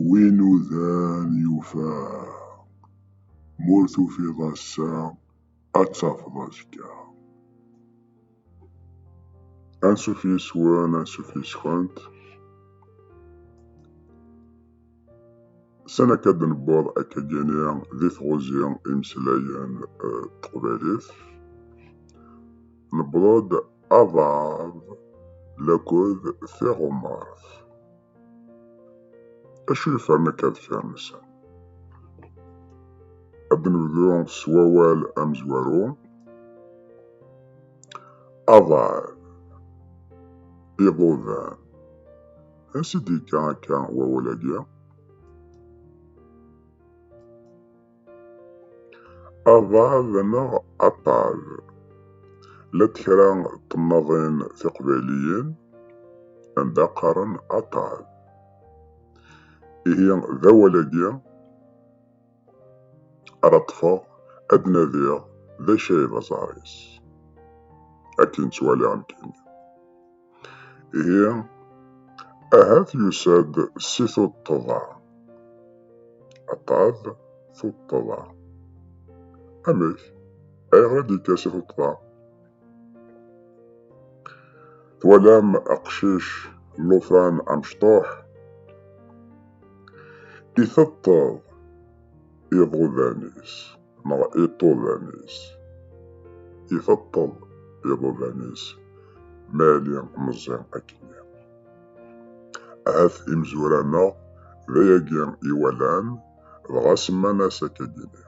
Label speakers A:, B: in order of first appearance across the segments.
A: Win udan yufa, m'ur tufiḍ ass-a ad tafeḍ azekka. Ansuf yes-wen, ansuf yes-kent, sani akka ad d-newweḍ akkagi-nni di tɣuzi imeslayen teqbaylit, newweḍ-d Aḍad laked tiɣumart. Acu yefren akka deffir nsen? Ad nebdu s wawal amezwaru. Aḍad, iḍudan. Ansi d-yekka akka wawal-agi? Aḍad neɣ aṭṭad. Llant kra n temnaḍin tiqbayliyin anda qqaren aṭṭad. Ihi d awal-agi ara ṭṭfeɣ ad d-nadiɣ d acu ay d aẓar-is. Akken ttwaliɣ nekkini. Ihi, ahat yusa-d si tuṭṭḍa. Aṭṭad, tuṭṭḍa. Amek? Ayɣer i d-yekka si tuṭṭḍa? Twalam aqcic llufan amecṭuḥ? Iteṭṭeḍ iḍudan-is. neɣ iṭudan-is. Iteṭṭeḍ iḍudan-is ma yali meẓẓi akkenni. Ahat imezwura-nneɣ d ayagi i walan, dɣa semman-as akagini.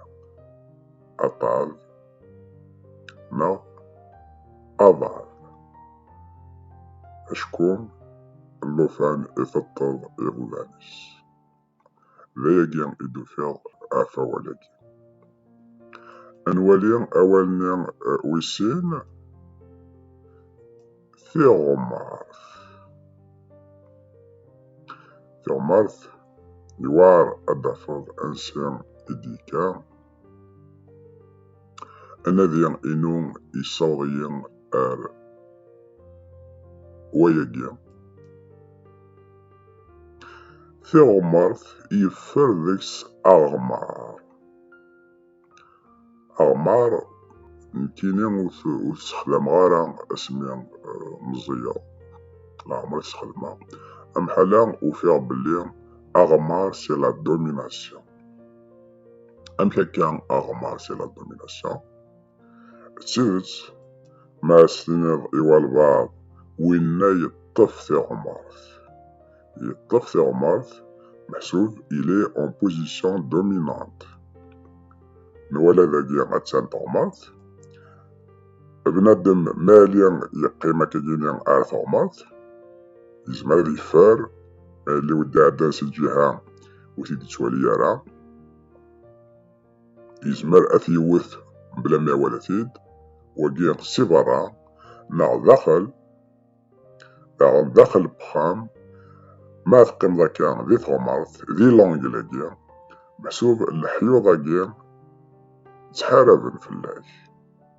A: Aṭṭav neɣ aḍav. Acku llufan iteṭṭeḍ iḍudan-is. D ayagi i d-ufiɣ at awal-agi. Ad nwali awal-nni wis sin, tiɣmert. Tiɣmert yewɛer ad d-tafeḍ ansi i d-yekka. Anadi-inu yessaweḍ-iyi ar wayagi. Tiɣmert yeffer deg-s aɣmar. Aɣmar nekkini ur t-ssexdameɣ ara asmi meẓẓiyeɣ. Leɛmer i t-xedmeɣ. Amḥala ufiɣ belli aɣmar c'est la domination. Amek akka aɣmar c'est la domination d tidet ma as tiniḍ i walbaɛḍ winna yeṭṭef tiɣmert yeṭṭef tiɣmert meḥsub il est en position dominante nwala dagi attan teɣmert bnadem mali yeqqim akkagini ar teɣmert yezmer ad yeffer ma yelli wi d-iɛeddan si ǧiha ur t-id-yettwali ara yezmer ad t-yewwet bla ma iwala-t-id wagi si berra neɣ daxel neɣ daxel wexxam ma teqqimeḍ akka di tɣemart di langel-agi meḥsub leḥyuḍ-agi ttḥaraben fell-ak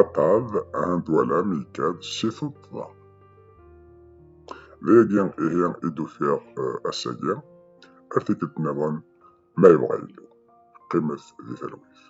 A: Aṭṭav ɛand walam yekad si tuṭṭḍa. Dayagi ihi i d-ufiɣ ass-agi, ar tikkelt nniḍen ma yebɣa Yillu. Qqimet di talwit.